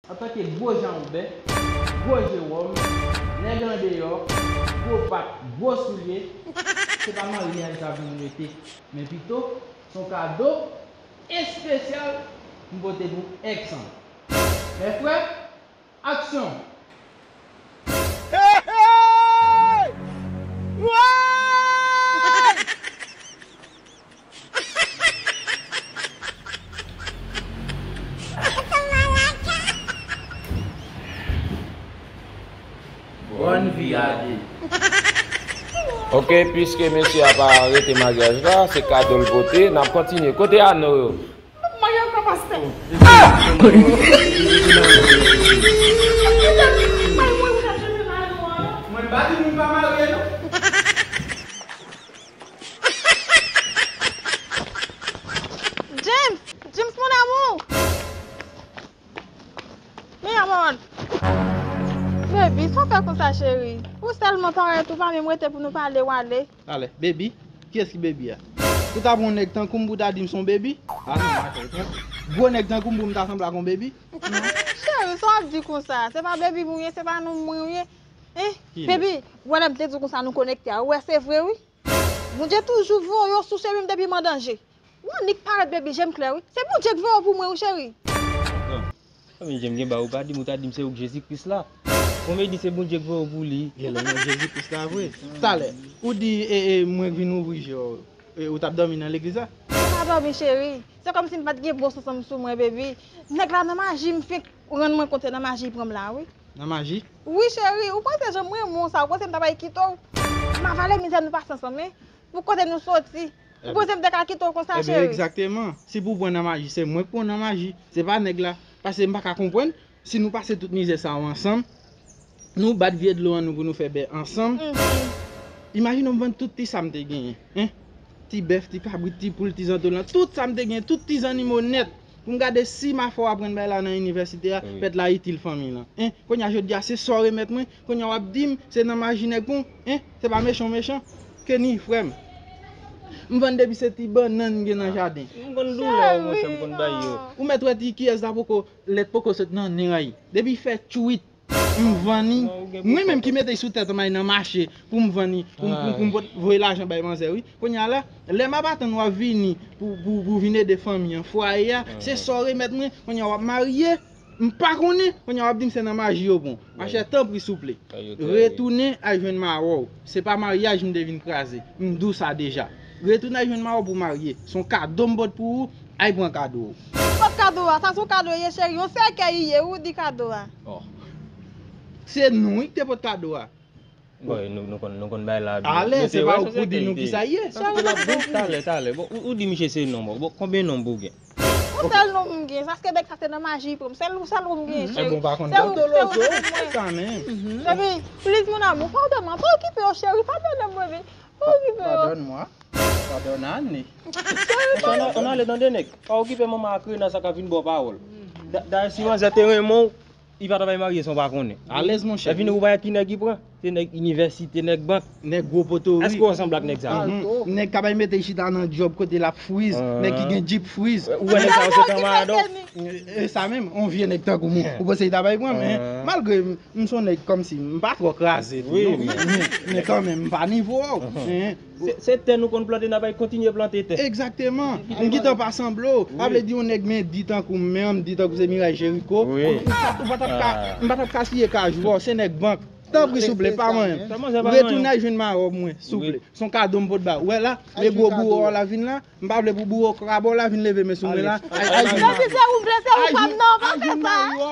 Antanke gwo janwobè, gwo je wòm, nèg andeyò, gwo pat, gwo soulye, se pa maryaj sa pou m rete, men pito se yon kado espesyal m pote pou ex an. Mè frè, aksyon! Bòn vi ade. Ok pwiske mesye a pa rete maryaj la se kado l pote nap kontinye kote ano yo. James! James mon amour! Mi amor! Baby, sa w fè konsa cheri? Ou sèlman parèt ou pa menm rete pou nou pale w ale. Ale, baby? Kiyès ki baby a? Ou ta pran yon nèg tankou m pou w ta di m s on baby? A non, ma cheri, pran gwo nèg tankou m pou m ta sanble ak on baby? Non, cheri, sa w ap di konsa? Se pa baby m ou ye, se pa nonm mwen ou ye. Enh baby ou wè lèm te diw konsa nou konekte a ou wè se vre wi Bondye toujou voye yon sou chemim depi m an danje ou annik parèt baby jem klè wi se Bondye k voye w pou mwen wi cheri. Nan Fanmi jem gen ba ou pa dim ou ta dim se ou k Jezi Kris la Bon baby se Bondye k voye w pou li e lèm wè Jezi Kris la vre talè ou di mwen k vin ouvri je w e ou tap dòmi nan legliz la. Mwen pa dòmi cheri se kòmsi m pat gen bon sans anm sou mwen baby nèg la nan maji m fenk Ou rann mwen kont se nan maji pranm la wi. Nan maji? Wi cheri, ou panse janm renmen w sa, ou panse m ta bay kite w? M avale mizè nou pase ansanm hein. Pou kote nou soti. Ou panse m te ka kite w konsa cheri? Ebyen egzakteman, si pou w pran nan maji se mwen k pran w nan maji, se pa nèg la. Pase m pa ka konprann, si nou pase tout mizè sa yo ansanm. Nou bat vye dlo an nou pou nou fè bè ansanm Imajine w m vann tout ti sa m te genyen Ti bèf, ti kabrit, ti poul, ti zantolan Tout sa m te genyen, tout ti zannimo nèt Pou m gade si m a fè w aprann bay la nan inivèsite a Pèt la itil fanmiy lan Kounye a jodi a se sa w remèt mwen Kounye a w ap di m se nan maji nèg pou Se pa mechan w mechan Kenny frè m M vann depi se ti bannann m gen nan jaden M konn doulè yo monchè m konn bay yo Ou mèt wè ti kiyès la poko lèt poko sot nan nen an Depi fè tchuiip. M vann li, mwen menm ki mete l sou tèt anmay nan mache pou m vann li, pou m voye lajan bay manzè wi. Kounye a la, lè m ap atann w ap vini pou w vin ede fanmi an, fwaye a, se sa w remèt mwen, kounye a w ap marye, m pa konnen, kounye a w ap di m se nan maji yo bon. Machè tanpri souple, retounen al jwenn mawon w. Se pa maryaj m te vin kraze. M dou sa deja. Retounen al jwenn mari w pou w marye. S on kado m pot pou ou. Ay pran kado w. Ki sòt kado a? Sa s on kado ye cheri? Yon sèkèy li ye wi w di kado a. Oh. Se nou wi ki te pot kado a. Bon e nou konn nou konn bay la tou. Ale, se pa ou k pou di nou kisa l ye. Sa se l ap di. Talè, talè. Bon ou di misye se non bon. Bon konbyen non pou w gen? Bon sèl nou m gen sa skebèk sa se nan maji li pran m sèl sèl ou m gen cheri Ebon pa konn gato lo zo sa menm Epi please mon amour padone moi pa okipe yo cheri padone mwen vin pa okipe yo Padone moi padone Anne Cheri padone Anne tande nèg pa okipe manman ak Rena sa ka vin ba w pawòl dayè si manzè te renmen w Li pa travay marye san w pa konnen. Alèz monchè. Epi nou wè ki nèg li pran? Se nèg inivèsite, nèg bank. Nèg gwo poto wi. Èske w ansanble ak nèg sa yo? Alto. Nèg kap al mete l chita nan djòb kote l ap friz. Nèg ki gen djip friz. Ou wè nèg sa yo se kanmarad w? E sa menm? On vye nèg tankou m ou panse li ta bay pran men. Malgre m s on nèg kòmsi m pa twò kraze tou non. Men kanmenm m pa nivo w. Se tè nou konn plante nap al kontinye plante tè. Egzakteman! M gintan pa sanble w. Sa vle di yon nèg men di tankou m, men an m di tankou se Miray Jeriko, ou pa tap ka, m pa tap ka siye kajou ba w, se nèg bank. Tanpri souple, pa manyen m. Retounen al jwenn mawon mwen, souple. S on kado m pot ba w. Ou wè la, lè gwo bouwo w la vin la, m pa vle pou bouwo krab w la vin leve men sou mwen la. Al jwenn mari w. Al jwenn mari w.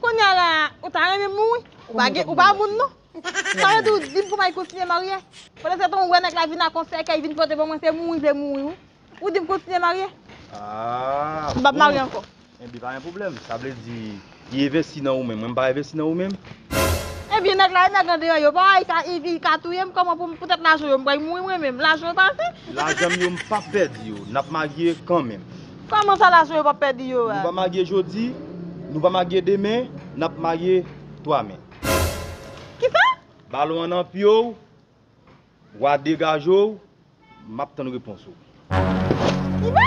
Kounya la ou ta renmen mouri ou pa moun non sa vle di ou dim pou may kontinye marye pandan se tan ou wè nèg la vin ak yon sèkèy vin pote pou mwen se mouri vle mouri wi ou dim kontinye marye m pap marye ankò ebyen pa gen pwoblèm sa vle di li envesti nan ou menm mwen m pa envesti nan ou menm ebyen nèg la e nèg andeyò yo pa wè li ka touyem kòman pou pou tèt lajan yo m bray mouri mwen menm lajan yo pa ase lajan m yo m pap pèdi yo nap marye kanmenm. Sa mansa la sou yo pap pedi yo a. Nou pa marye jodi, nou pa marye demen, nap marye 3 me. Kisa? Balon an nan pye w, wa degaje w, map tann repons ou. Kisa?